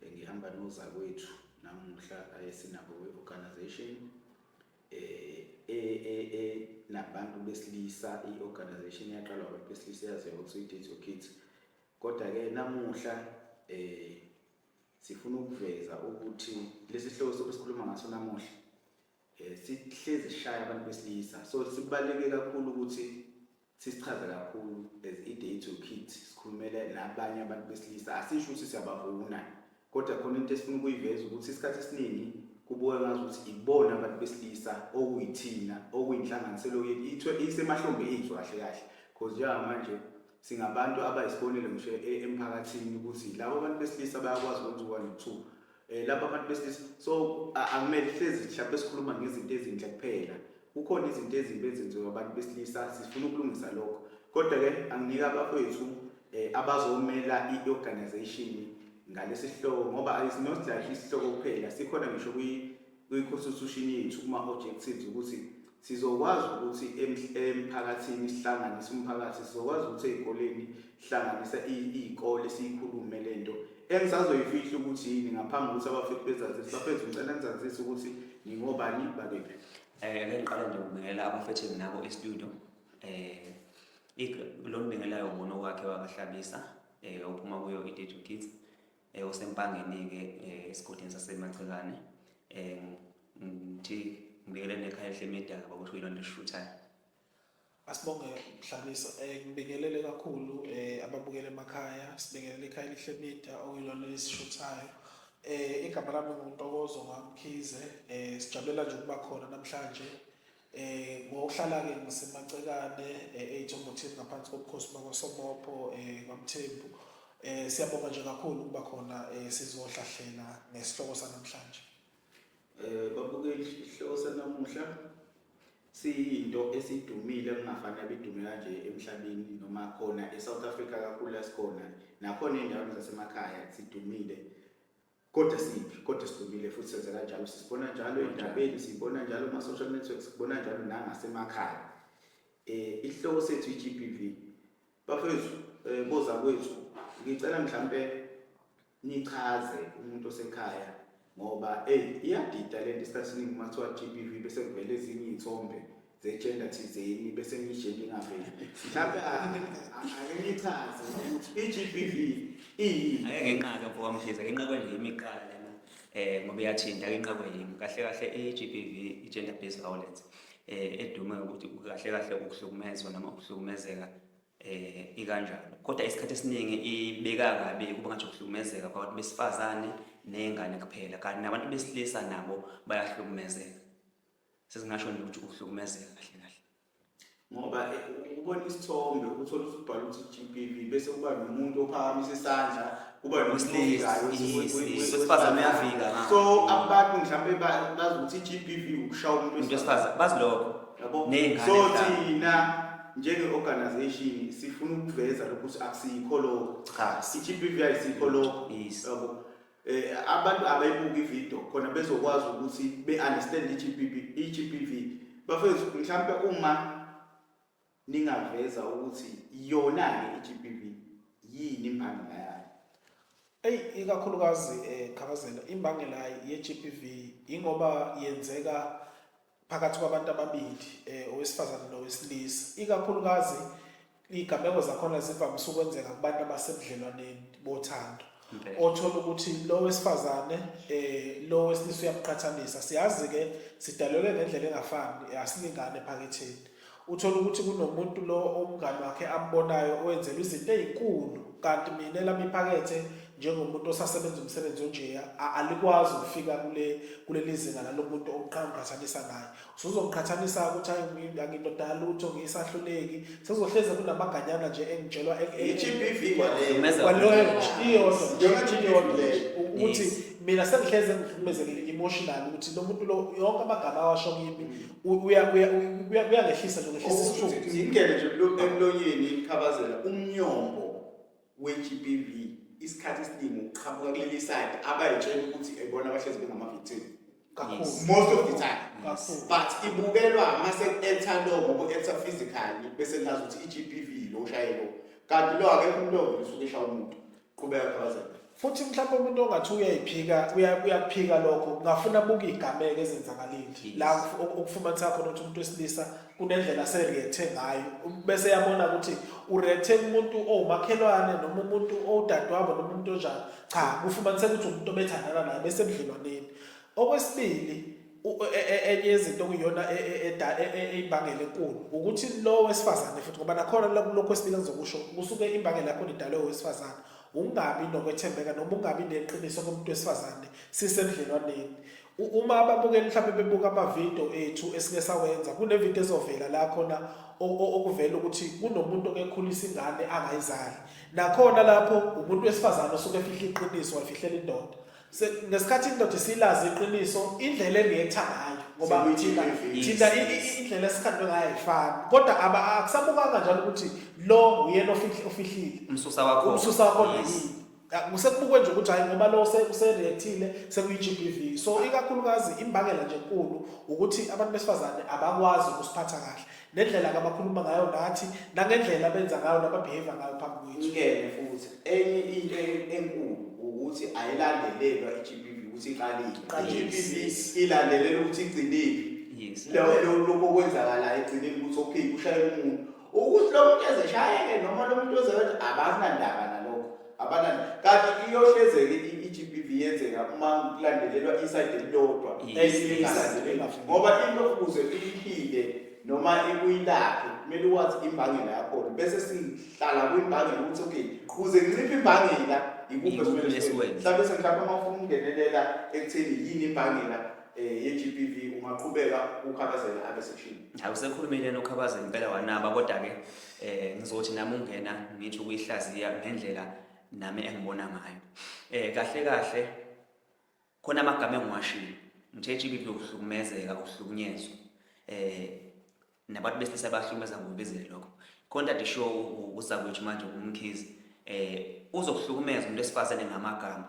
Bengihamba nozakwethu namuhla ayesinabo kwi-organization eh, eh, eh, eh nabantu besilisa i-organization yaqalwa abantu besilisa yaziwa ukuthi i-Date Your Kids kodwa-ke namuhla eh sifuna ukuveza ukuthi lesi sihloko sokusikhuluma ngaso namuhla eh sihlezi shaya abantu besilisa so sibaleke kakhulu ukuthi sisichaze kakhulu as i-day to kit sikhulumele nabanye abantu besilisa asisho ukuthi siyabavuna kodwa khona into esifuna ukuyiveza ukuthi isikhathi esiningi kubuka ngazi ukuthi ibona abantu besilisa okuyithina okuyinhlanganiselo yethu isemahlombe ethu kahle kahle because njengamanje singabantu abayisibonelo ngisho e-, emphakathini ukuthi labo bantu besilisa bayakwazi ukwenza u-one two Eh laba abantu besilisa so akumele hlezi mhlawumbe sikhuluma ngezinto ezinhle kuphela. Kukhona izinto ezimbi ezenziwa abantu besilisa sifuna ukulungisa lokho. Kodwa ke anginike abafowethu eh abazomela i-organization ngalesi sihloko ngoba it's not like isihloko kuphela sikhona ngisho kwi kwi-constitution yethu kuma-objectives ukuthi sizokwazi ukuthi emphakathini sihlanganise umphakathi sizokwazi ukuthi ey'koleni sihlanganise iy'kole siyikhulume le nto engisazoyifihla ukuthi yini ngaphambi kokuthi abafethu bezazise bafethu ngicela ngizazise ukuthi ngingobani bakephi um eh, ke ngiqala nje ukubingelela abafethu enginabo estudio um lo mbingelayo umuntu okwakhe wakahlabisa um eh, ophuma kuyo i-date kids eh, osempangeni-ke eh, esigodini sasemacekane um ngithi ngibekele nekhaya elihle medaka bakusho yilonto esishuthayo asibonge mhlabisa um ngibingelele kakhulu um ababukele emakhaya sibingelele ikhaya elihle media okuyilona lesishuthayo um igama lami nguntokozo ngamkhize um sijabulela nje ukuba khona namhlanje Eh ngokuhlala ke ngisemacekane eJomothini ngaphansi kobukhosi bakwaSomopho eh kwaMthembu. Eh siyabonga nje kakhulu ukuba khona eh sizohlahlela ngesihloko sanamhlanje. Eh babukeli isihloko sanamuhla siyinto esidumile kungafani abidume kanje emhlabeni noma khona eSouth Africa kakhulu lasikhona nakhona endaweni zasemakhaya sidumile Kodwa siphi? Kodwa sidumile futhi senze kanjalo. Sisibona njalo endabeni, sibona njalo kuma social networks, sibona njalo nangasemakhaya. Eh isihloko sethu iGBV. Bafethu, eh boza kwethu, ngicela mhlambe nichaze umuntu osekhaya ngoba hey iyadida lento isikhathi siningi uma kuthiwa GBV bese kuvela ezinye iy'thombe zegender thizeni bese ngiyijeni ngaveli mhlawumbe ake ngichaze ukuthi i-GBV iyini ake ngenqaka mfo wamshiza ngenqakwe nje imiqala lena eh ngoba iyathinta ake nqakwe yimi kahle kahle i-GBV i-gender based violence eh edume ukuthi kahle kahle ukuhlukumezwa noma ukuhlukumezeka eh ikanjalo kodwa isikhathi esiningi ibeka kabi kuba ngathi ukuhlukumezeka kwabantu besifazane nezingane kuphela kanti nabantu besilisa nabo bayahlukumezeka sesingasho nje ukuthi ukuhlukumezeka kahle kahle ngoba eh, ubona isithombe uthola ukuthi ubhala ukuthi GBV bese kuba nomuntu ophakamisa isandla kuba nosilikayo wesifazane uyavika so abantu mhlawumbe bazi ukuthi GBV ukushaya umuntu wesifazane bazi lokho yabo so thina njenge-organization sifuna ukuveza lokhu ukuthi akusikho lokho cha i-GBV ayisikho lokho yabo Eh, abantu abayibuki ivideo khona bezokwazi ukuthi be-understand i-GBV, i-GBV. Bafethu mhlawumpe uma ningaveza ukuthi yona-ke i-GBV yini imbangela yayo eyi ikakhulukazi um eh, khabazela imbangela ye-GBV yingoba yenzeka phakathi kwabantu ababili um owesifazane nowesilisa ikakhulukazi iy'gameko zakhona zivamise ukwenzeka kubantu abasebudlelwaneni bothando othola ukuthi lo wesifazane um lo wesilisa uyabuqhathanisa siyazi-ke sidalelwe ngendlela engafani asilingani ephaketheni Uthola ukuthi kunomuntu lo umngane wakhe ambonayo owenzelwa izinto ezinkulu kanti mina lami iphakethe njengomuntu osasebenza umsebenzi onjeya alikwazi ukufika kule kuleli zinga lalomuntu oqhaqhathanisa naye usuzoqhathanisa ukuthi hayi angindoda lutho ngiyisahluleki sezohleze kunamaganyana nje engitshelwa i-GBV kwaleyo iyodwa ukuthi mina sengihleze ngihlukumezekile emotional ukuthi lo muntu lo yonke amagama awasho kimi uyangehlisa nje ngehlisa isishuko ingene nje emlonyeni ikhabazela umnyombo we-GBV isikhathi esiningi uqhamuka kuleli side abayitshela ukuthi ebona abahlezi bengamavictim kakhulu most of the time but ibukelwa uma sekuetha lo ngoba uetha physically bese ngazi ukuthi i-GBV lo ushayelo kanti lo akekho umlomo usuke eshaya umuntu qhubeka khabazela futhi mhlawumbe umuntu ongathi uyayiphika uyakuphika lokho ngafuna buka igameke ezenzakalile la ukufumanisa khona ukuthi umuntu wesilisa kunendlela asereacthe ngayo bese yabona ukuthi ureacthe umuntu owumakhelwane noma umuntu owudadewabo noma umuntu onjani cha kufumaniseka ukuthi umuntu obethandana naye bese ebudlelwaneni Okwesibili e, e, e, enye yezinto okuyiyona imbangela enkulu ukuthi lo wesifazane futhi ngoba nakhona lokho esibili engizokusho kusuke imbangela yakhona idalwe owesifazane ungabi nokwethembeka noma ungabi neqiniso komuntu wesifazane sisebudlelwaneni uma ababukeli mhlawumbe bebuka amavidiyo ethu esike sawenza kunevidiyo ezovela la khona okuvela ukuthi kunomuntu okekhulisa ingane angayizali nakhona lapho umuntu wesifazane osuke efihla iqiniso wayifihlela indoda ngesikhathi indoda isilazi iqiniso indlela engiyetha ngayo ngoba thina thina indlela esikhandwe ngayo ayifani kodwa akusabukanga njalo ukuthi lo uyena ofihlile umsusa wakho umsusa wakho yini kusekubukwe nje ukuthi hayi ngoba lo usereactile sekuyi-GBV so ikakhulukazi imbangela nje enkulu ukuthi abantu besifazane abakwazi ukusiphatha kahle nendlela abakhuluma ngayo nathi nangendlela abenza ngayo nababehave ngayo phambi kwethu ngeke futhi enye into enkulu ukuthi ayilandelelwa iGBV ukuthi iqalile iGBV ilandelela ukuthi igcinile yes lokho lokho kwenzakala egcineni ukuthi okay ushayela umuntu ukuthi lo muntu ezeshayeke noma lo muntu ozewenza abazinandaba abanani kanti iyohlezeke i-GBV yenzeka uma kulandelelwa isayidi elilodwa elingalandelelwa ngoba into ukuze iyiphinde noma ikuyilaphe kumele wazi imbangela yakhona bese sihlala kwimbangela ukuthi okay kuze kunciphe imbangela ikuphi esimele sikwenze mhlawumbe sengihlapha uma ufuna ukungenelela ekutheni yini imbangela eh ye-GBV ungaqhubeka ukhabazela abesishini hayi usekhulumile nokhabazela impela wanaba kodwa ke eh ngizothi nami ungena ngisho ukuyihlaziya ngendlela nami engibona ngayo eh kahle kahle khona amagama engiwashilo ngithe GBV ukuhlukumezeka ukuhlukunyezwa eh nabantu besilisa bahlukumeza ngokubizile lokho contact show uzakwethu manje umkhizi eh uzokuhlukumeza umuntu esifazane ngamagama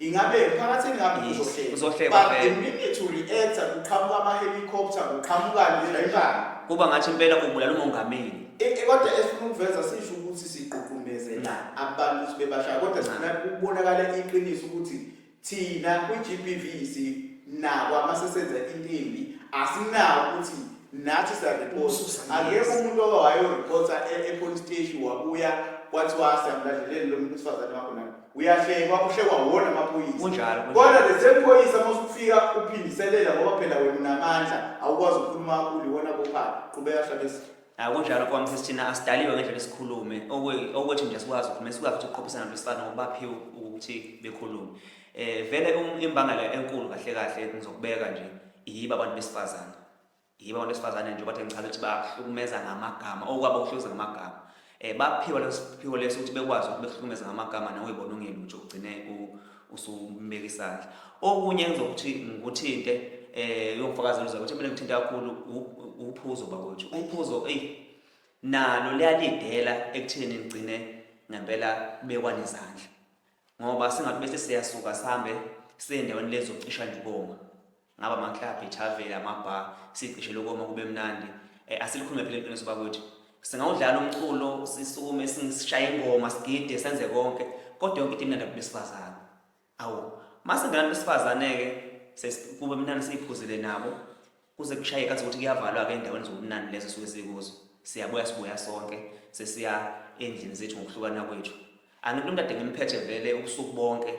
Ingabe phakathini lapho Yes, uzohleka. uzohleka But vele. the minute u reactor kuqhamuka ama helicopter kuqhamukani ngendlala. Kuba ngathi impela ubulala umongameli. E- e- Kodwa esifuna ukuveza sisho ukuthi sigqugqumezela abantu ukuthi bebashaya kodwa sifuna ukubonakala iqiniso ukuthi thina kwi-GBV sinako uma sesenza into embi asinako ukuthi nathi siyareport Ukususa akekho yes. umuntu owayorepota e-police station wabuya kwathiwa siyamlandleleni lo muntu wesifazane wakho na uyahlekwa uhlekwa wona amaphoyisa Kunjalo, kunjalo. kodwa the same phoyisa uma usufika uphindiselela ngoba phela wena unamandla awukwazi ukukhuluma kakhulu iwona bophaka qhubeka hlabesi hayi kunjalo mfowam sisi thina asidaliwe ngendlela esikhulume Okwe- okwethu nje sikwazi ukukhuluma sikwazi ukuthi uqophisana nolwesifana ngoba baphiwe ukuthi bekhulume um vele um- imbangela enkulu kahle kahle ngizokubeka nje yiba abantu besifazane yibo abantu besifazane nje bathe ngichaza ukuthi bahlukumeza ngamagama okwabo kuhlukumeza ngamagama um baphiwa lesiphiwo leso ukuthi bekwazi ukuthi behlukumeza ngamagama nawe yibona ungelutho ugcine usumbeka isandla okunye engizokuthi ngikuthinte um yongifakazela uza ukuthi mina ngithinta kakhulu uphuzo bakwethu uphuzo eyi nalo liyalidela ekutheni ngigcine ngempela kubekwane izandla ngoba singathi bese siyasuka sihambe siye endaweni lezocisha njiboma ngaba amaklabhu ithaveli amabhar sicishe lokoma kube mnandi um asilikhulume phela iqiniso bakwethu singawudlala umculo sisukume sishaye ingoma sigide senze konke kodwa yonke into imnandi abantu besifazane awu uma singenabantu besifazane-ke kube mnandi siyiphuzile nabo kuze kushaye kathi ukuthi kuyavalwa-ke endaweni zobumnandi lezo suke sikuzo siyabuya sibuya sonke sesiya endlini zethu ngokuhlukana kwethu angithi umntu ade ngimphethe vele ubusuku bonke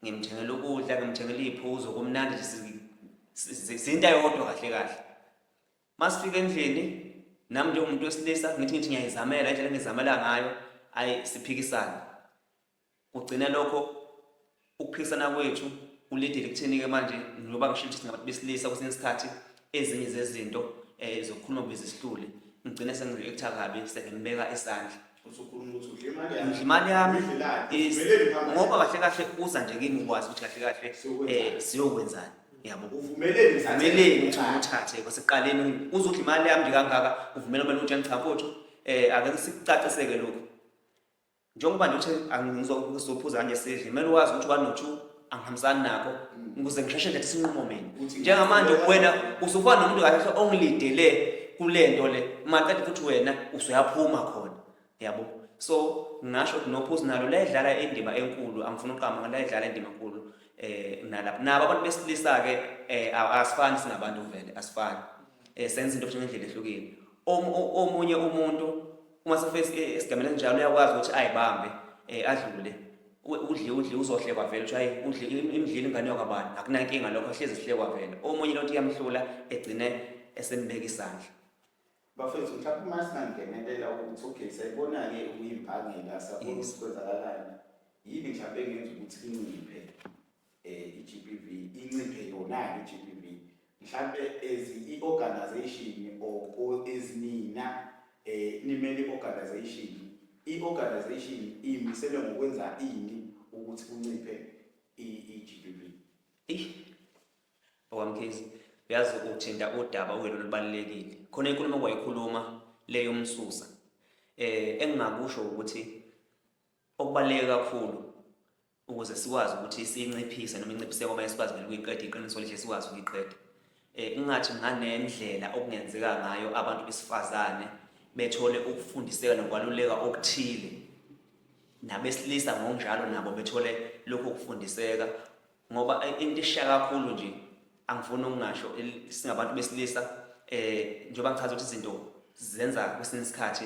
ngimthengela ukudla ngimthengela iy'phuzo kumnandi nje sinta yodwa kahle kahle uma sifika endlini nami njengomuntu wesilisa ngithi ngithi ngiyayizamela indlela engizamela ngayo ayi siphikisane kugcina lokho ukuphikisana kwethu kulidile kutheni-ke manje ngoba ngisho ukuthi singabantu besilisa kwesinye isikhathi ezinye zezinto um zokukhuluma kubiza isihlule ngigcine sengizokutha kabi sengimbeka isandla usukhuluma ukuthi udle imali yami udle imali yami ngoba kahle kahle uza nje kimi ukwazi ukuthi kahle kahle eh siyokwenzani yabo uvumeleni uvumeleni ukuthi umthathe kwasekuqaleni uzodla imali yami nje kangaka uvumela kumele utshani cha mfowethu eh ake sikucaciseke lokhu njengoba nje uthe angizokuzophuza kanje sidle kumele wazi ukuthi wanotshu angihambisani nakho ukuze ngisheshe ngithi sinqumo mina njengamanje wena usufana nomuntu kahle ongilidele kule nto le maqede futhi wena usuyaphuma khona yabo so ngasho ukuthi nophuzi nalo layidlala indima enkulu angifuna uqama ngoba layidlala indima enkulu eh nalapha nabo abantu besilisa ke eh, asifani singabantu vele asifani eh senza into ngendlela ehlukile omunye umuntu uma sefesi eh, esigamela njalo uyakwazi ukuthi ayibambe eh, adlule udle udle uzohlekwa vele ukuthi hayi udle imdlile ingane yokwabani akunankinga lokho ahlezi sihlekwa vele omunye lonto iyamhlula egcine esembeka isandla bafethu mhlawumbe uma singangenelela ukuthi okay sayibona-ke ukuyimbangela sakubona ukuthi kwenzakalani yini mhlawumbe engenza ukuthi inciphe eh iGBV inciphe yona iGBV mhlambe as iorganization or ezinina eh nimele organization iorganization imisele ngokwenza ini ukuthi kunciphe iGBV okwamkhizi uyazi uthinta udaba okuyilo lubalulekile khona inkulumo kwayikhuluma leyo umsusa eh engingakusho ukuthi okubaluleke kakhulu ukuze sikwazi ukuthi siyinciphise noma inciphise kwamanye sikwazi vele ukuyiqeda iqiniso lihle sikwazi ukuyiqeda um ungathi nganendlela okungenzeka ngayo abantu besifazane bethole ukufundiseka nokwaluleka okuthile nabesilisa ngokunjalo nabo bethole lokhu ukufundiseka ngoba eh, into eshiya kakhulu nje angifuni ukungasho singabantu besilisa um njengoba ngichaza ukuthi izinto zenza kwesinye isikhathi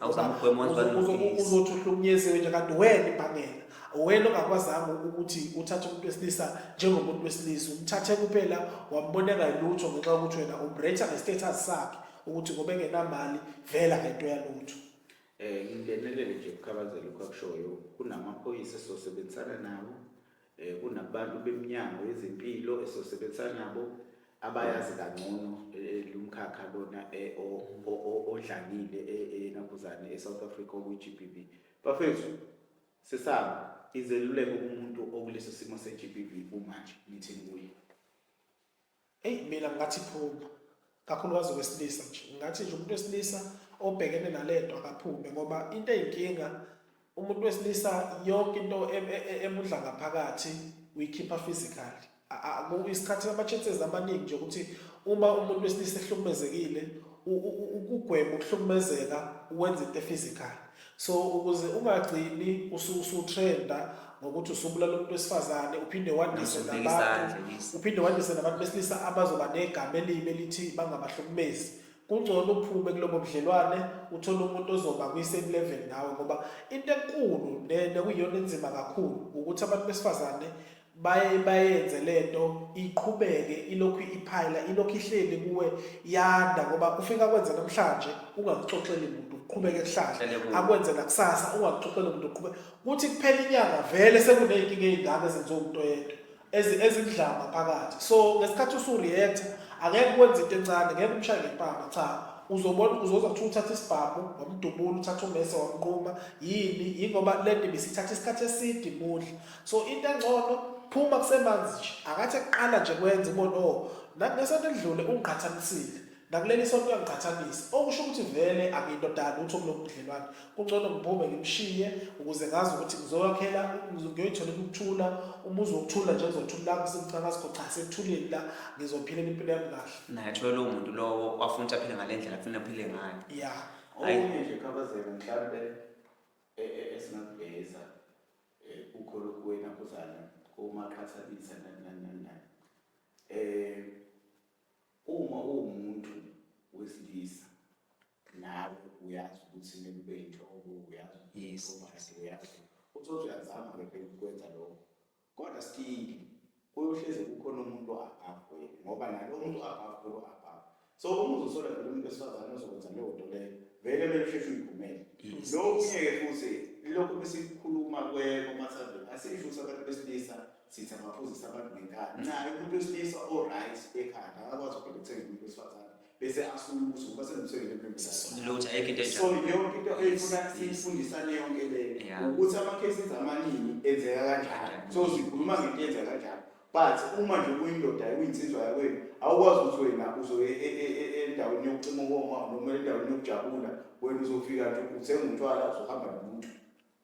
awuzama ukugwema wenza balungise uzothi uhlukunyeziwe nje kanti wena ibhangela wena ongakwazanga ukuthi uthathe umuntu wesilisa njengomuntu wesilisa umthathe kuphela wamboneka lutho ngenxa yokuthi wena umretha nge-status sakhe ukuthi ngoba engenamali vela ngento yalutho um ngingenelele nje ukukhabazela ukwakushoyo kunamaphoyisa sosebenzisana nawo Eh, kunabantu beminyango yezempilo esosebenza nabo abayazi kangcono eh, lumkhakha lona eh, odlangile enabuzane e-south africa okwi-gbv bafethu sisaba izeluleko kumuntu okuleso simo se-gbv kumanje nithini kuye Eyi mina ngathi phuma kakhulukazi wesilisa nje ngathi nje umuntu wesilisa obhekene nalento akaphume ngoba into eyinkinga umuntu wesilisa yonke into e, e, e, emudla ngaphakathi uyikhipha physically isikhathi ama-chances amaningi nje ukuthi uma umuntu wesilisa ehlukumezekile ukugwema ukuhlukumezeka wenza into e-physical So ukuze ungagcini usutrenda ngokuthi usubulala umuntu wesifazane uphinde wandise nabantu uphinde wandise nabantu besilisa abazoba negama elibi elithi bangabahlukumezi kungcono uphume kulobo budlelwane uthole umuntu ozoba kwi-same level nawe ngoba into enkulu nekuyiyona enzima kakhulu ukuthi abantu besifazane baye bayenze lento iqhubeke ilokhu iphayila ilokhu ihleli kuwe yanda ngoba ufika kwenza namhlanje ungakuxoxeli muntu uqhubeke kuhlahla akwenze nakusasa ungakuxoxeli muntu uqhube kuthi kuphela inyanga vele sekuneyinkinga ezingaka ezenziwa umuntu oyedwa ezindlama phakathi so ngesikhathi usureact angeke kwenze into encane ngeke umshaye ngempama cha uzobona uzoza kuthiwa uthatha isibhamu wamdubula uthatha umese wamnquma yini yingoba le ndima isithatha isikhathi eside imudla so into engcono phuma kusemanzi nje akathi ekuqala nje kwenza ubona o oh, nangesonto elidlule ungiqhathanisile nakuleli sonto uyangiqhathanisa okusho ukuthi vele angiyindodana utho kulo budlelwane kungcono ngiphume ngimshiye ukuze ngazi ukuthi ngizoyakhela ngiyoyithola ukuthula umuzi wokuthula nje ngizothula kusimcakasikho cha sekuthulile la ngizophila impilo yami kahle naye athiwe lowo muntu lowo wafuna ukuthi aphile ngale ndlela afuna aphile ngayo ya okunye nje khabazela mhlawumbe e, e, esingakubheza eh ukholo kuwena kuzana komaqhathanisa nani nani nani nani eh uma uwumuntu wesilisa nawe uyazi ukuthi nekube into uyazi Yes. ukuthi uyazi uthi uthi uyazama ke phela ukwenza lokho kodwa still kuyohlezi kukhona umuntu above wena ngoba nalo muntu above kulo above so uma uzosola vele umuntu wesifazane ozokwenza leyo nto leyo vele kumele usheshe uyigumele lokunye-ke futhi lokhu besikhuluma kwekomasazi asisho ukuthi abantu besilisa sithi abaphuzisa abantu ngenkani ncaye umuntu wesilisa o-right ekhanda akakwazi ukuthenga umuntu wesifazane bese asulusa ngoba senomsebenzi emnengi lutho ayikho into enjalo so yonke into eyifuna siyifundisane yonke le ukuthi ama cases amaningi enzeka kanjani so sikhuluma ngento enzeka kanjani but uma nje kuyindoda kuyinsizwa yakwenu awukwazi ukuthi wena uzoye e, e, e, endaweni yokucima ukoma noma endaweni yokujabula wena uzofika nje uthenga utshwala uzohamba nomuntu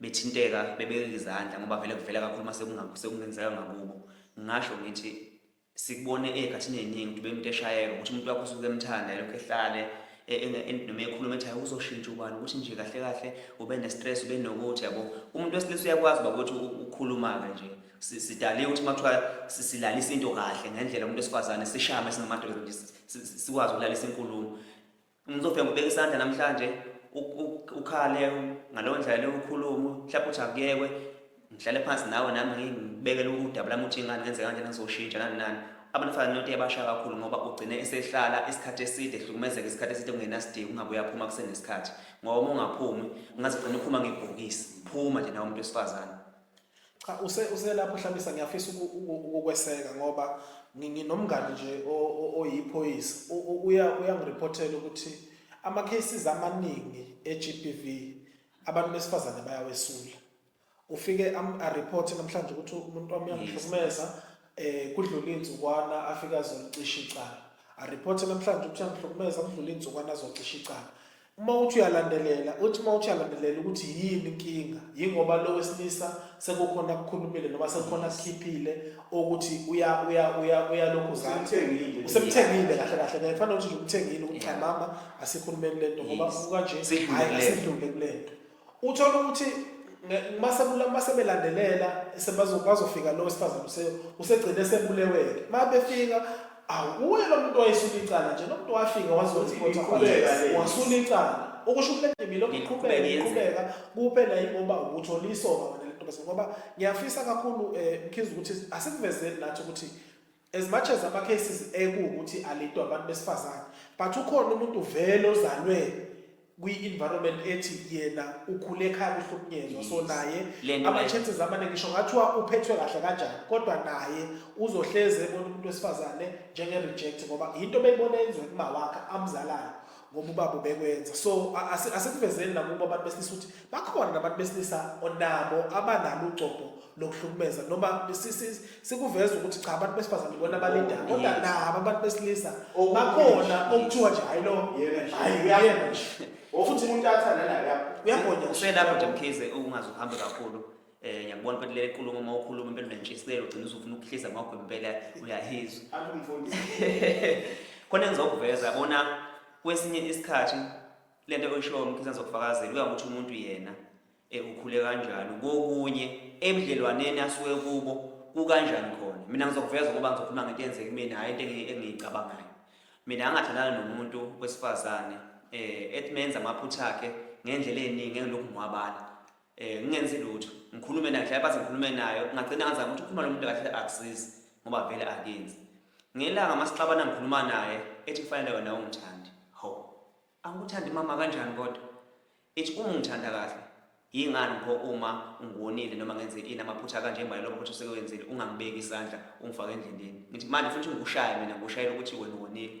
bethinteka bebeka izandla ngoba vele kuvela kakhulu uma sekungenzeka ngakubo ngingasho ngithi sikubone ey'khathini ey'ningi ukuthi bemuntu eshayeka ukuthi umuntu wakho usuke emthanda elokhu ehlale e, e, e, noma ekhuluma ethi hayi uzoshintsha ubani ukuthi nje kahle kahle ube ne-stress ube nokuthi yabo umuntu wesilisa uyakwazi uba ukuthi ukhuluma-ke nje sidale ukuthi uma kuthiwa silalisa into kahle ngendlela umuntu esifazane sishame singamadoda nje sikwazi ukulalisa inkulumo Umuntu ofika ngobeka isandla namhlanje ukhale ngalowo ndlela leyo ukhulume mhlawumbe uthi akuyekwe ngihlale phansi nawe nami ngibekele udaba lami ukuthi ingane ngenzeka kanjena ngizoshintsha nani nani abantu fana nento yabasha kakhulu ngoba ugcine esehlala isikhathi eside ehlukumezeka isikhathi eside kungenasidingo ungabe uyaphuma kusenesikhathi ngoba uma ungaphumi ungaze ugcine uphuma ngebhokisi phuma nje nawe umuntu wesifazane Cha use uselapho Hlabisa ngiyafisa ukukweseka ngoba nginomngani nje oyiphoyisa uya uyangireportela ukuthi ama cases amaningi eGBV abantu besifazane bayawesula ufike am a report namhlanje ukuthi umuntu wami uyangihlukumeza eh kudlula inzukwana afika azolicisha icala a report namhlanje ukuthi uyangihlukumeza kudlula inzukwana azocisha icala Uma uthi uyalandelela, uthi uma uthi uyalandelela ukuthi yini inkinga, yingoba lo wesilisa sekukhona akukhulumile noma sekukhona akukhiphile ukuthi uya uya uya uyalokhu Usemthengile. usemthengile kahle kahle naye kufanele ukuthi nje umthengile ukuthi cha mama asikhulumeni lento ngoba Yes. ubuka nje Sidlule hhayi kulento. asidlule kulento Uthola ukuthi mase mase belandelela sebazofika lo wesifazane use usegcine sebuleweke. Mabefika awuye lo muntu wayesula icala nje nomuntu wafika wazokwenza ikhotha wasula icala ukusho ukuthi le ndima iqhubeka iqhubeka kuphela yingoba uthole isoka wena lentombazane ngoba ngiyafisa kakhulu um eh, mkhize ukuthi asikuvezeli nathi ukuthi As much as ama cases ekuwukuthi alethwa abantu besifazane but ukhona umuntu vele ozalwe kwi-environment ethi yena ukhule ekhaya kuhlukunyezwa so naye ama-chances amaningi ngisho ngathiwa uphethwe kahle kanjani kodwa naye uzohleze ebona umuntu wesifazane njenge-reject ngoba yinto beyibona yenziwe kumawakhe amzalayo ngoba ubaba ubekwenza so asikuvezeli nakubo abantu besilisa ukuthi bakhona nabantu besilisa onabo abanalo ugcobho lokuhlukumeza noma sikuveza ukuthi cha abantu besifazane bona balinda kodwa nabo abantu besilisa bakhona okuthiwa nje hayi lo hayi uyena futhi umuntu athanda naye uyagonya uselapho nje mkhize ungazi uhambe kakhulu eh ngiyakubona ukuthi le nkulumo uma ukhuluma impela unentshisekelo ugcina usufuna ukuhlisa ngakho impela uyahizwa Athi umfundisi. khona engizokuveza bona kwesinye isikhathi le nto oyishoyo mkhisa ngizokufakazela kuya ngokuthi umuntu yena eh, ukhule kanjani kokunye ebudlelwaneni asuke kubo kukanjani khona mina ngizokuveza ngoba ngizokhuluma ngento eyenzeka kumina hhayi into engi- engiyicabangayo mina angathandana nomuntu wesifazane um ethi menza amaphutha akhe ngendlela ey'ningi engilokhu ngiwabala Eh ngingenzi lutho. Ngikhulume naye ngihlale phansi ngikhulume nayo. Ngagcina ngaza ukuthi ukhuluma nomuntu kahle akusizi ngoba vele akenzi. Ngelanga masixabana ngikhuluma naye ethi kufanele wena ungithandi. Ho. Angikuthandi mama kanjani kodwa? Ethi uma ungithanda kahle yingani pho uma ungonile noma ngenze ini amaphutha kanje manje lokho ukuthi usekwenzile ungangibeki isandla ungifake endleleni. Ngithi manje futhi ngikushaya mina ngikushayela ukuthi wena wonile.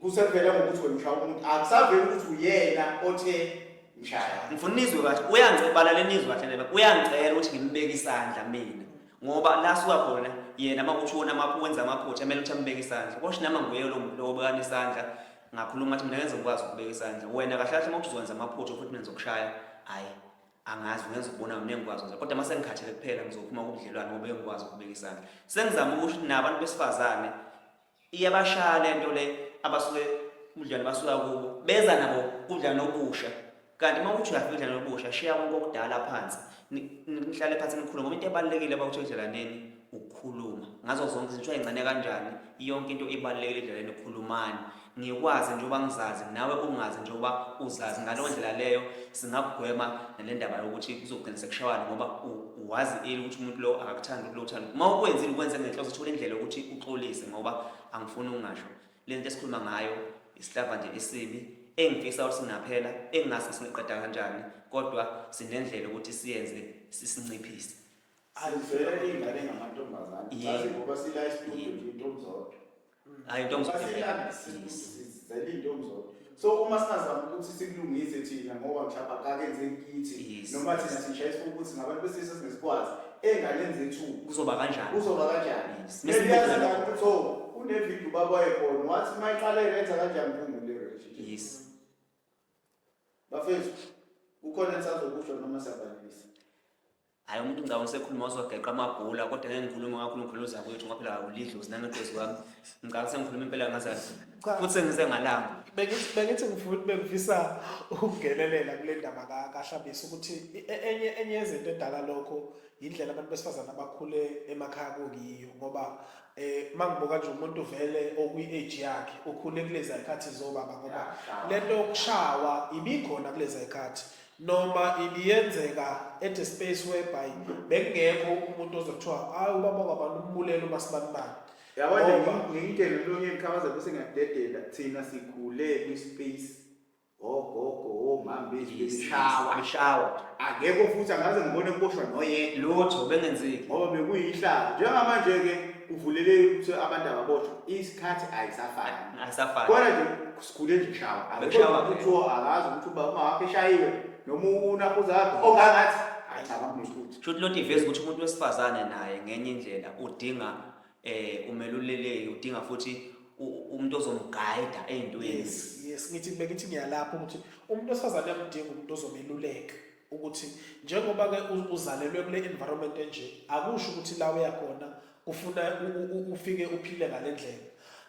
Kusevela ngokuthi wena ushaya umuntu akusaveli ukuthi uyena othe ngishaya. Ngifuna unizwe kahle uyangicebala lenizwe kahle leba uyangicela ukuthi ngimbeke isandla mina ngoba la suka khona yena uma kuthi wona mapho wenza amaphutha kumele ukuthi ambeke isandla kosho nama nguye lo muntu lo obekana isandla ngakhuluma ukuthi mina ngenze ngikwazi ukubeka isandla wena kahle kahle uma kuthi uzokwenza amaphutha futhi mina ngizokushaya hhayi angazi ngenza ukubona mina engikwazi ukwenza kodwa uma sengikhathele kuphela ngizophuma kubudlelwane ngoba engikwazi ukubeka isandla sengizama ukusho ukuthi nabantu besifazane Iyabashaya lento le abasuke ubudlelwane basuka kubo beza nabo ubudlelwane obusha kanti uma uthi uyafika ubudlelwane obusha shiya konke okudala phansi nihlale phansi nikhulume ngoba into ebalulekile abakuthi edlelaneni ukukhuluma ngazo zonke izinto ayingcane kanjani yonke into ibalulekile edlelaneni ukhulumani ngikwazi njengoba ngizazi nawe ungazi njengoba uzazi ngaleyo ndlela leyo singakugwema nale ndaba yokuthi kuzogcina sekushawana ngoba wazi eli ukuthi umuntu lo akakuthandi ukuthi lo uthanda uma ukwenzile ukwenze ngenhloso uthole indlela yokuthi uxolise ngoba angifuni ungasho le nto esikhuluma ngayo isihlava nje esibi engifisa ukuthi singaphela engingase singeqeda kanjani kodwa sinendlela ukuthi siyenze sisinciphise azivele ingane ngamantombazane ngoba sila isitudio nje intombi zodwa hayi ntombi sizele intombi zodwa so uma singazama ukuthi sikulungise thina ngoba mhlawumbe akakenze kithi noma thina sishayisa ukuthi ngabantu besilisa singesikwazi enganeni zethu kuzoba kanjani kuzoba kanjani siyazi la ukuthi so unevideo babaye khona wathi mayiqale yenza kanjani phungu le relationship yes bafethu ukhona ensazokusho noma siyabalisa hayi umuntu ngicabanga usekhuluma wazogeqa amabhula kodwa ngeke ngikhulume kakhulu ngikhuluma uzakwethu ngoba phela ulidlozi nangeqozi kwami ngicabanga sengikhuluma impela ngazazi Cha. futhi sengize ngalanga Bengithi bengithi ngifuna bengifisa ukungenelela kule ndaba ka- kaHlabisa ukuthi i- e- enye enye yezinto edala lokho yindlela abantu besifazane abakhule emakhaya kuyiyo ngoba eh mangibuka nje umuntu vele okuyi age yakhe ukhule kulezi ayikhathi zobaba ngoba lento yokushawa ibikhona kulezi ayikhathi noma ibiyenzeka at a space whereby bekungekho umuntu ozothiwa hayi ubaba kwabantu umbulele uma sibanibani yabo ngiyitshele lolunye iqhabaza bese ngiyadedela thina sikhule kwi-space ogogo omama bethu beshawa beshawa akekho futhi angaze ngibone kuboshwa noyedwa lutho bengenzeki ngoba bekuyihlazo njengamanje-ke kuvulele ukuthi abantu ababoshwa isikhathi ayisafani ayisafani kodwa nje sikhule nje kushawa Bekushawa ke. kuthiwa akazi ukuthi uba uma wakhe eshayiwe noma unakuza wakhe ongangathi hayi cha bakunesikuthi Sho ukuthi lonto iveza ukuthi umuntu wesifazane naye ngenye indlela udinga eh umeluleleki udinga futhi u- umuntu ozomguide eyintweni. yes yes ngithi bengithi ngiyalapha ukuthi umuntu osazane uyamdinga umuntu ozomeluleka ukuthi njengoba ke uzalelwe kule environment enje akusho ukuthi la uya khona kufuna ufike uphile ngalendlela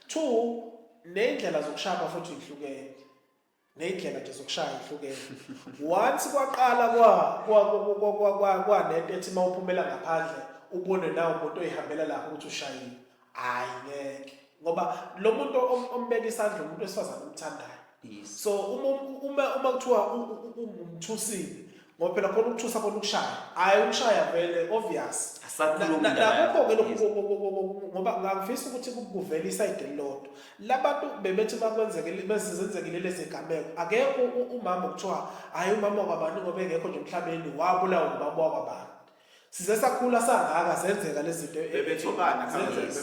two nezindlela zokushaya futhi ihlukene nezindlela nje zokushaya ihlukene once kwaqala kwa kwanento ethi mawuphumela ngaphandle ubone nawo umuntu oyihambela lapho ukuthi ushayile hayi ngeke ngoba lo muntu ombeka isandla umuntu wesifazane omthandayo so uma uma uma kuthiwa ungumthusile ngoba phela khona ukuthusa khona ukushaya hayi ukushaya vele obvious nakukho ke lokhu ngoba ngangifisa ukuthi kuvele isayide elilodwa labantu bebethi bakwenzekile bezenzekile lezi gameko akekho umama kuthiwa hayi umama kwabani ngoba engekho nje emhlabeni wabulawa ngubaba wakwabani size sakhula sangaka zenzeka lezinto e- bebethobana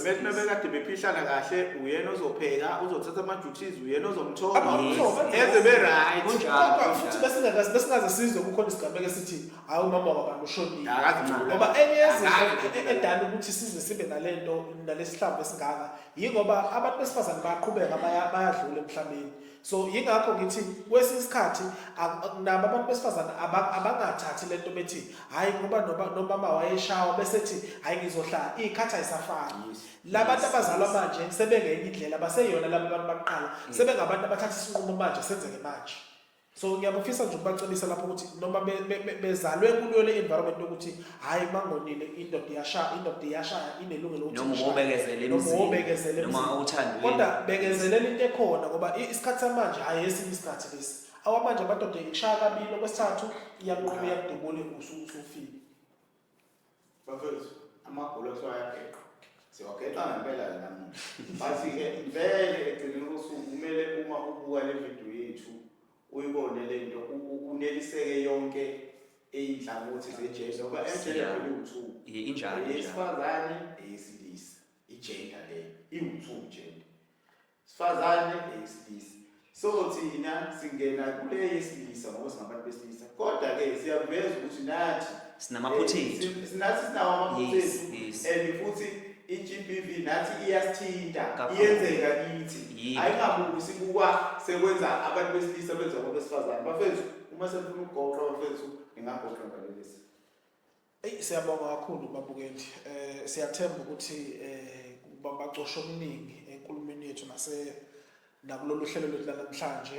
bebekade bephihlana kahle uyena ozopheka uzothatha ama-duties uyena ozomthoba eze be-right kodwa futhi besingakazi besingaze sizwe kukhona isigameko esithi hayi umama wabantu ushonile ngoba enye yezinto e- edala ukuthi size sibe nale nto nalesihlambo esingaka yingoba abantu besifazane bayaqhubeka bayadlula emhlabeni so yingakho ngithi kwesinye isikhathi nabo abantu besifazane abangathathi le nto bethi hhayi ngoba nomama wayeshawa bese thi hhayi ngizohlala iy'khathi ayisafani la bantu abazalwa manje sebengenye indlela baseyona laba bantu bakuqala mm. sebengabantu abathatha isinqumo manje senzeke manje so ngiyabafisa nje ukubacebisa lapho ukuthi noma bezalwe kuyo le environment yokuthi hayi mangonile indoda iyashaya indoda iyashaya inelungelo ukuthi noma ubekezele noma ubekezele noma uthanda kodwa bekezelela into ekhona ngoba isikhathi samanje hayi esinye isikhathi lesi awamanje amadoda ikushaya kabili okwesithathu iyanquma iyakudubula usufile bafethu amagulo kuthiwa ayageqa siwageqa ngempela ke namuhla bathi-ke vele ekugcineni kosuku kumele uma ubuka le vidiyo yethu Uyibone lento uneliseke yonke eyinhlangothi zejesu ngoba emjele kuyuthu. Ye injalo. Yesifazane eyesilisa. Igender leyo. Iwuthu gender. Sifazane eyesilisa. So thina singena kule yesilisa ngoba singabantu besilisa Kodwa ke siyakuveza ukuthi nathi sinamaphutha eh, ethu. si- Nathi sinawo amaphutha Yes, ethu yes. and futhi i-GBV nathi iyasithinta Kakhulu. iyenzeka kithi. Yebo. Ayingabuki sibuka sekwenza abantu besilisa benza abantu besifazane. Bafethu uma senifuna ukugoqa bafethu ningagoqa ngalelisi. Eyi siyabonga kakhulu babukeli. Eh siyathemba ukuthi eh babacosha okuningi enkulumeni yethu nase nakulolu hlelo lwethu lanamhlanje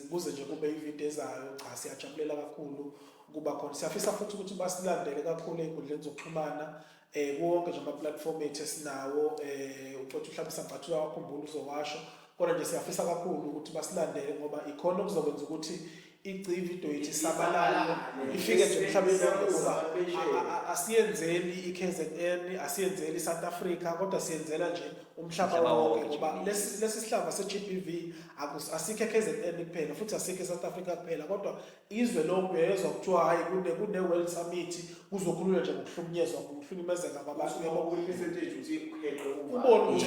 kuze nje kube ivideo ezayo cha siyajabulela kakhulu kuba khona siyafisa futhi ukuthi basilandele kakhulu ey'nkundleni zokuxhumana eh konke nje ama-platform ethu esinawo eh ucotha uhlabisa ngathi uyawakhumbula uzowasho kodwa nje siyafisa kakhulu ukuthi basilandele ngoba ikhona okuzokwenza ukuthi igcivi into yethu isabalale ifike nje emhlabeni wonke ngoba asiyenzeli i-KZN asiyenzeli i-South Africa kodwa siyenzela nje umhlaba wonke ngoba lesi lesi sihlava se-GBV asikho e-KZN kuphela futhi asikho e-South Africa kuphela kodwa izwe lonke uyezwa kuthiwa hhayi kune kune-World Summit kuzokhululwa nje ngokuhlukunyezwa ngokuhlukumezeka kwabantu yabo ubona ukuthi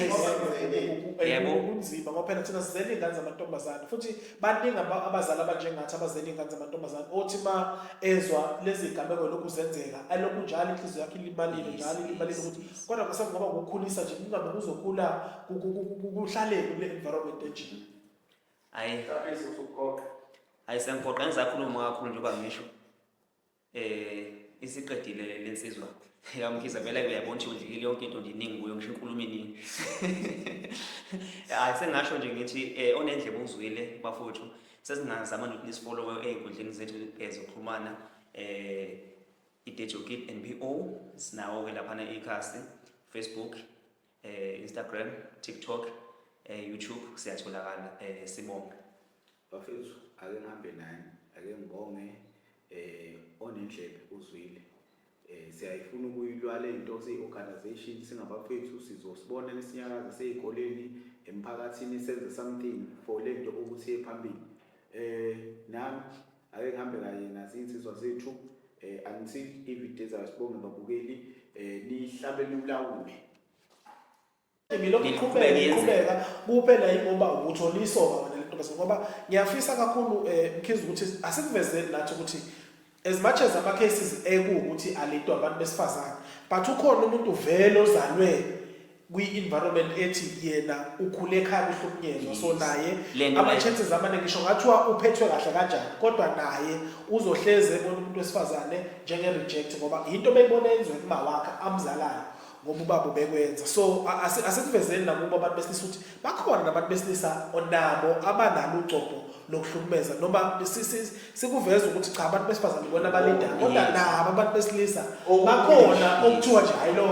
kunzima ngoba phela thina sizele iy'ngane zamantombazane futhi baningi abazali abanjengathi abazela iy'ngane zamantombazane othi ma ezwa lezi gameko lokhu zenzeka alokhu njalo inhliziyo yakhe ilimalile njalo ilimalile ukuthi kodwa kwase kungaba ngokukhulisa nje kungabe kuzokhula kuhlaleni kule environment enjini hayi hayi sengigoqa engisakhuluma kakhulu njengoba ngisho Eh isiqedile lensizwa. Yamkhiza vele uyabona ukuthi udlikile yonke into ndiningi kuyo ngisho inkulumo iningi. Hayi sengasho nje ngithi eh onendlebe uzwile bafowethu sesingazama nokuthi nisifollowe ezinkundleni zethu eh, zokuxhumana eh idejokid NBO sinawo ke lapha na ikhasi Facebook eh Instagram TikTok eh YouTube siyatholakala eh sibonga Bafethu ake ngihambe nani ake ngibonge eh onendlebe uzwile eh siyayifuna ukuyilwa lento siyiorganization singabafethu sizosibona lesinyakaza seyikoleni emphakathini senze something for lento ukuthi ephambili eh nami ake ngihambe kanye nazinsizwa zethu eh until ivideo zayo sibonge babukeli eh nihlabe niwulawule ngilokhu iqhubeka iqhubeka kuphela yingoba uthola isoka wena lentombazane ngoba ngiyafisa kakhulu um eh, mkhizi ukuthi asikuvezeli nathi ukuthi as much as ama-cases ekuwukuthi alidwa abantu besifazane but ukhona umuntu vele ozalwe kwi-environment ethi yena ukhule ekhaya kuhlukunyezwa so naye ama-chances amaningi ngisho ngathiwa uphethwe kahle kanjani kodwa naye uzohleze ebona umuntu wesifazane njenge-reject ngoba yinto beyibona yenzwe kumawakhe amzalayo ngoba ubaba ubekwenza so asikuvezeni nakubo abantu besilisa ukuthi bakhona nabantu besilisa onabo abanalo ugcobho lokuhlukumeza noma sikuveza ukuthi cha abantu besifazane bona balinda oh, kodwa nabo abantu besilisa oh, bakhona okuthiwa nje hayi lo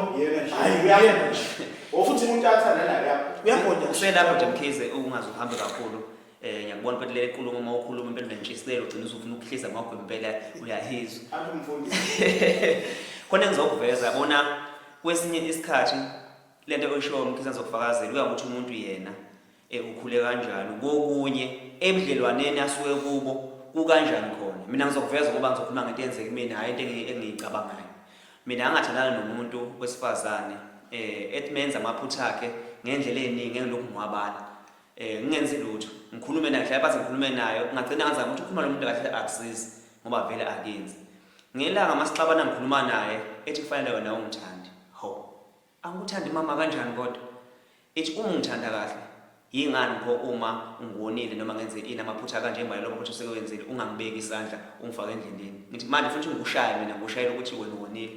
hayi uyena futhi umuntu athanda naye uyagonya uselapho nje mkhize ungaze uhambe kakhulu eh ngiyakubona ukuthi le nkulumo uma ukhuluma impela unentshisekelo ugcina usufuna ukuhlisa ngakho impela uyahizwa Athi umfundisi. khona engizokuveza yabona kwesinye isikhathi le nto oyishoyo mkhisa ngizokufakazela kuya ngokuthi umuntu yena eh, ukhule kanjani kokunye ebudlelwaneni asuke kubo kukanjani khona mina ngizokuveza ngoba ngizokhuluma ngento eyenzeka kumina hhayi into engi- engiyicabangayo mina angathandana nomuntu wesifazane um ethi menza amaphutha akhe ngendlela ey'ningi engilokhu ngiwabala eh ngingenzi lutho ngikhulume naye hlaya bathi ngikhulume nayo ngagcina ngaza ukuthi ukhuluma nomuntu kahle akusizi ngoba vele akenzi ngelanga masixabana ngikhuluma naye ethi kufanele wena ungithandi ho angikuthandi mama kanjani kodwa ethi uma ungithanda kahle yingani pho uma ungonile noma ngenze ini amaphutha kanje manje lokho ukuthi usekewenzile ungangibeki isandla ungifake endleleni ngithi manje futhi ngikushaya mina ngikushayela ukuthi wena wonile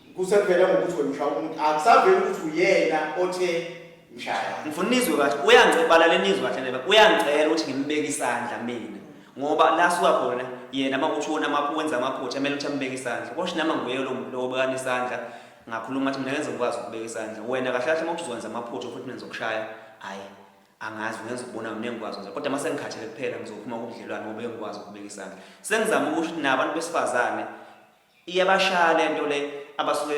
Kusevela ngokuthi wena ushaya umuntu. Akusaveli ukuthi uyena othe ngishaya. Ngifuna nizwe kahle. Uyangicela lenizwe kahle neba. Uyangicela ukuthi ngimbeke isandla mina. Ngoba la suka khona yena uma kushona maphu wenza amaphutha kumele ukuthi ambeke isandla. Kosh nama nguye lo muntu lo obekana isandla. Ngakhuluma ukuthi mina ngenze ngikwazi ukubeka isandla. Wena kahle kahle uma uzowenza amaphutha futhi mina ngizokushaya. Hayi. angazi ngenza ukubona mina engikwazi nje kodwa mase ngikhathele kuphela ngizophuma kubudlelwane ngoba engikwazi ukubeka isandla sengizama ukuthi nabantu besifazane Iyabashaya lento le abasuke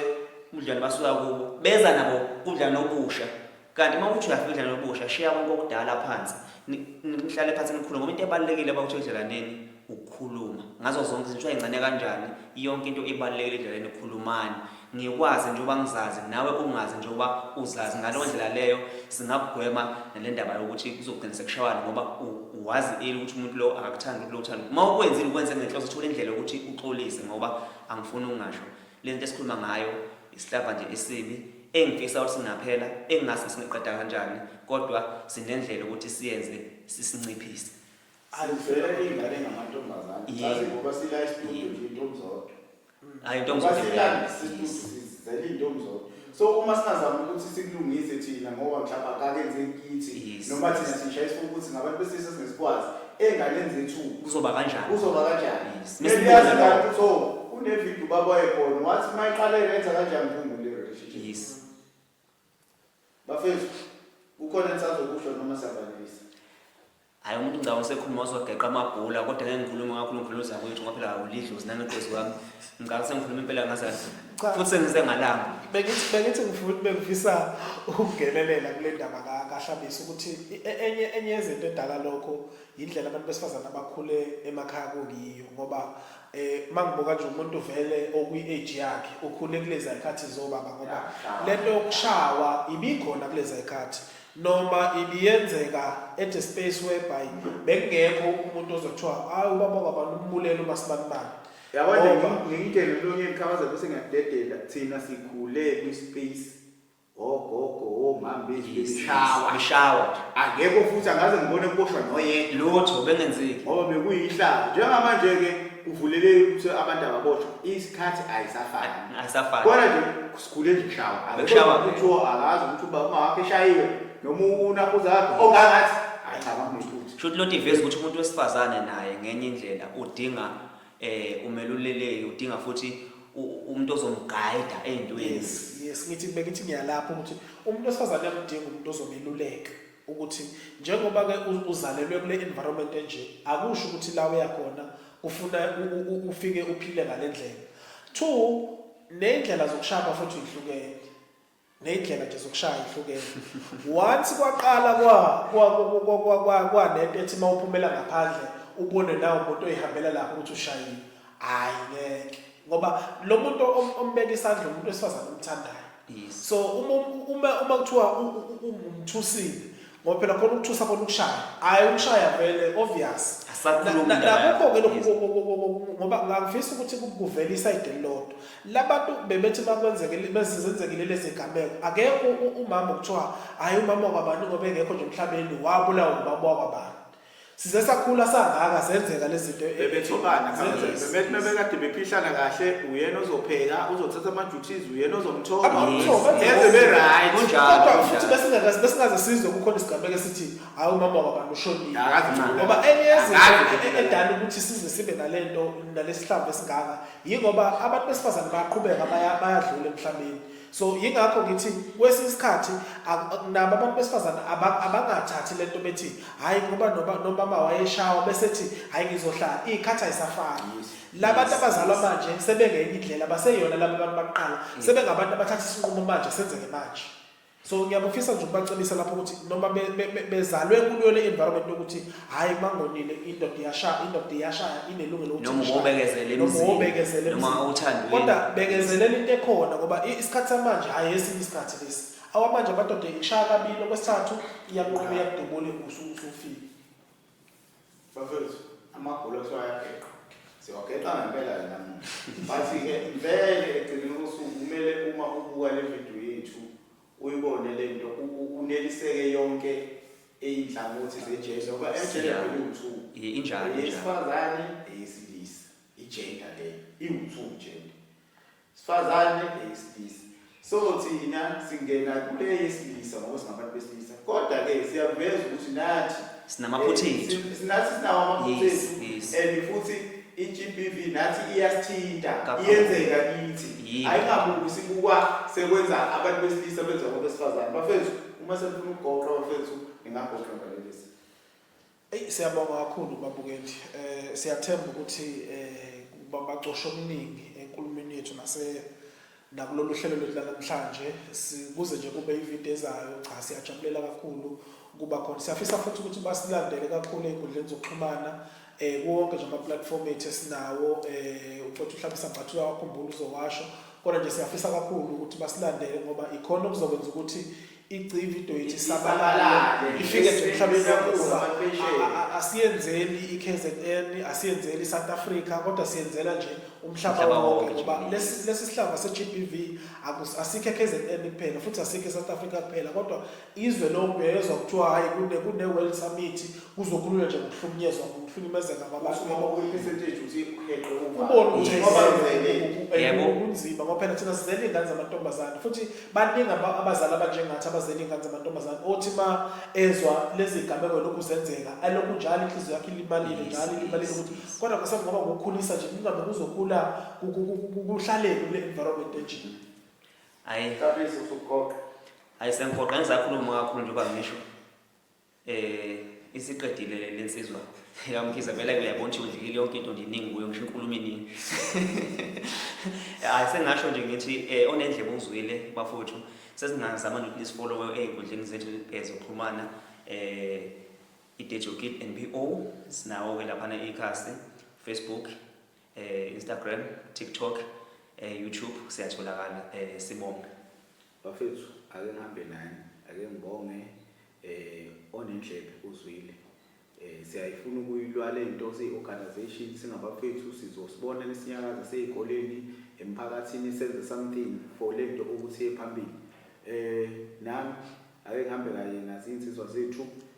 umdlalo basuka kubo beza nabo umdlalo obusha kanti uma uthi uyafika umdlalo obusha shiya konke okudala phansi nihlale phansi nikhulume ngoba into ebalulekile abawuthi edlalaneni ukukhuluma ngazo zonke izinto ayingcane kanjani yonke into ibalulekile edlaleni ukhulumani ngikwazi njengoba ngizazi nawe ungazi njengoba uzazi ngaleyo ndlela leyo Singakugwema nale ndaba yokuthi kuzogcina sekushawana ngoba wazi eli ukuthi umuntu lo akakuthandi ukuthi lo uthanda. Uma ukwenzile ukwenze ngenhloso uthole indlela yokuthi uxolise ngoba angifuni ungasho. Le nto esikhuluma ngayo isihlava nje esibi engifisa ukuthi singaphela engingazi singeqeda kanjani kodwa sinendlela ukuthi siyenze sisinciphise. Azivele ingane ngamantombazane. Azi ngoba sila isibhuku nje intombazane. hayi ntombi Basilanda sistudu sizele intombi zodwa. So uma singazama ukuthi sikulungise thina ngoba mhlawumbe akakenze kithi Yes. noma thina sishaya isifuba ukuthi ngabantu besilisa singesikwazi enganenzi ethuba. kuzoba kanjani Kuzoba kanjani? Yes. Maybe Mesibona yazi lokho. kanti so kunevideo ubaba wayekhona wathi uma iqala yenza kanjani mphungule relationship. yes Bafethu, kukhona nisazokusho noma siyabalisa. Hayi umuntu ngicabanga usekhuluma uzogeqa amabhula kodwa ngeke ngikhulume kakhulu ngikhuluma uzakwethu ngoba phela ulidlozi nangeqozi wami. Ngicabanga sengikhuluma impela ngazathi Cha. futhi sengize ngalanga. Bengithi bengithi ngifuna bengifisa ukungenelela kule ndaba ka kaHlabisa ukuthi i- e- enye enye yezinto edala lokho indlela abantu besifazana abakhule emakhaya kuyiyo ngoba Eh mangibuka nje umuntu vele okwi age yakhe ukhule kulezi ayikhathi zobaba ngoba lento yokushawa ibikhona kulezi ayikhathi noma ibiyenzeka at a space whereby bekungekho umuntu ozothiwa hayi ubaba kwabantu umbulele uma sibanibani yabona ngiyitshele lonyeni khabaza bese ngiyadedela thina sikhule kwi space ogogo omama bengishawa ngishawa nje angekho futhi angaze ngibone kuboshwa noyedwa lutho bengenzeki ngoba bekuyihlazo njengamanje ke kuvuleleke ukuthi abantu ababoshwa isikhathi ayisafani ayisafani kodwa nje sikhule nje kushawa akushawa kuthiwa akazi ukuthi uba uma wakhe eshayiwe noma unakhuza wakhe ongangathi ayicabanga ngephutha shuthi loti vezi ukuthi umuntu wesifazane naye ngenye indlela udinga eh umeluleleki udinga futhi umuntu ozomguide ezintweni yes yes ngithi bengithi ngiyalapha ukuthi umuntu osazane uyamdinga umuntu ozomeluleka ukuthi njengoba ke uzalelwe kule environment enje akusho ukuthi la uya khona ufuna ufike uphile ngalendlela two nendlela zokushaya futhi ihlukene neyindlela nje zokushaya ihlukene once kwaqala kwa kwa kwa kwa kwa kwa nento ethi mawuphumela ngaphandle ubone nawo umuntu oyihambela lapho ukuthi ushayile hayi ngeke ngoba lo muntu ombeka isandla umuntu wesifazane omthandayo so uma uma uma kuthiwa ungumthusile ngoba phela khona ukuthusa khona ukushaya hhayi ukushaya vele obvious nakukho-ke lokhu ngoba ngangifisa ukuthi kuvele isayide elilodwa labantu bebethi uma kwenzekile bezenzekile lezi gameko akekho umama kuthiwa hhayi umama wakwabani ngoba engekho nje emhlabeni wabulawa umama wakwabani size sakhula sangaka zenzeka lezinto e- bebethobana Zenzeka. bebethi bebekade bephihlana kahle uyena ozopheka uzothatha ama-duties uyena ozomthoba Abamthoba, Yes. eze be-right Kunjalo, kodwa kunjalo. futhi besingakaze besingaze sizwe kukhona isigameko esithi hayi umama wabantu ushonile Akazi ngcono. ngoba enye Akazi yezinto ngcono. edala ukuthi size sibe nale nto nalesihlambo esingaka yingoba abantu besifazane bayaqhubeka baya- bayadlula emhlabeni so yingakho ngithi kwesinye isikhathi nabo abantu besifazane abangathathi le nto bethi hhayi ngoba nomama wayeshawa bese thi hhayi ngizohlala iy'khathi ayisafani labantu abazalwa manje sebengenye indlela baseyona laba bantu bakuqala mm. sebengabantu abathatha isinqumo manje senzeke manje so ngiyabafisa nje ukubacebisa lapho ukuthi noma bezalwe kuyo le environment yokuthi hayi mangonile indoda iyashaya indoda iyashaya inelungelo ukuthi noma ubekezele noma ubekezele noma uthanda kodwa bekezelela into ekhona ngoba isikhathi samanje hayi esinye isikhathi lesi awamanje amadoda ikushaya kabili okwesithathu iyanqoba iyakudubula usufile bafethu amagula kuthiwa ayageqa siwageqa ngempela yena bathi-ke vele ekugcineni kosuku kumele uma ubuka le vidiyo yethu Uyibone lento uneliseke yonke izinhlangothi zejele ngoba ejele kuyiwuthu. Ye injalo. Yesifazane eyesilisa. Igender leyo. Iwuthu gender. Sifazane eyesilisa. So thina singena kule yesilisa ngoba singabantu besilisa. Kodwa ke siyakuveza ukuthi nathi Sinamaphutha Eh, ethu. sin- sinathi sinawo amaphutha Yes, ethu yes. and futhi i-GBV nathi iyasithinta Kakhulu. iyenzeka kithi Yebo. ayingabuki sibukwa sekwenza abantu besilisa benza kwabesifazane bafethu uma senifuna ukugoqa bafethu ningagoqa ngalelisi Eyi siyabonga kakhulu babukeli. Eh siyathemba ukuthi eh bacosha omningi enkulumeni yethu nase Nakulolu hlelo lwethu lanamhlanje sikuze nje kube ividiyo ezayo cha siyajabulela kakhulu ukuba khona siyafisa futhi ukuthi basilandele kakhulu ey'nkundleni zokuxhumana um kuwonke nje ama-platform ethu esinawo um ucothi uhlabisa ngathi uyawakhumbula uzowasho kodwa nje siyafisa kakhulu ukuthi basilandele ngoba ikhona okuzokwenza ukuthi iGCIVIDO yethu isabalale ifike nje emhlabeni wakuba asiyenzeli iKZN asiyenzeli iSouth Africa kodwa siyenzela nje umhlaba wonke ngoba lesi lesi sihlava seGBV asikho eKZN kuphela futhi asikho eSouth Africa kuphela kodwa izwe lonke uyezwa kuthiwa hayi kune kune World Summit kuzokhululwa nje ngokuhlukunyezwa ngokuhlukumezeka kwabantu ngoba kuyipercentage uthi uheqe uma ubona ukuthi ngoba kunzima ngoba phela thina sizele ingane zamantombazane futhi baningi abazali abanjengathi abazela iy'ngane zamantombazane othi ma ezwa lezi gameko lokhu zenzeka alokhu njalo inhliziyo yakhe ilimalile njalo ilimalile ukuthi kodwa kwasam ngoba ngokukhulisa nje kungabe kuzokhula kuhlaleni kule environment enjini ayi ayi sengigoqa ngisakhuluma kakhulu njengoba ngisho Eh isiqedile le nsizwa. Yamkhiza vele uyabona ukuthi udlile yonke into ndiningi kuyo ngisho inkulumo iningi. Hayi sengasho nje ngithi eh onendlebe uzwile bafowethu sesingazama nokuthi nisifollow ezinkundleni zethu ezokuxhumana eh idejokid NPO sinawo ke lapha na ikhasi Facebook eh Instagram TikTok eh YouTube siyatholakala eh sibonga Bafethu ake ngihambe nani ake ngibonge eh onendlebe uzwile eh siyayifuna ukuyilwa lento siyi organization singabafethu sizosibona nisinyakaza sezikoleni emphakathini senze something for lento ukuthi ephambili eh nami ake ngihambe kanye nazinsizwa zethu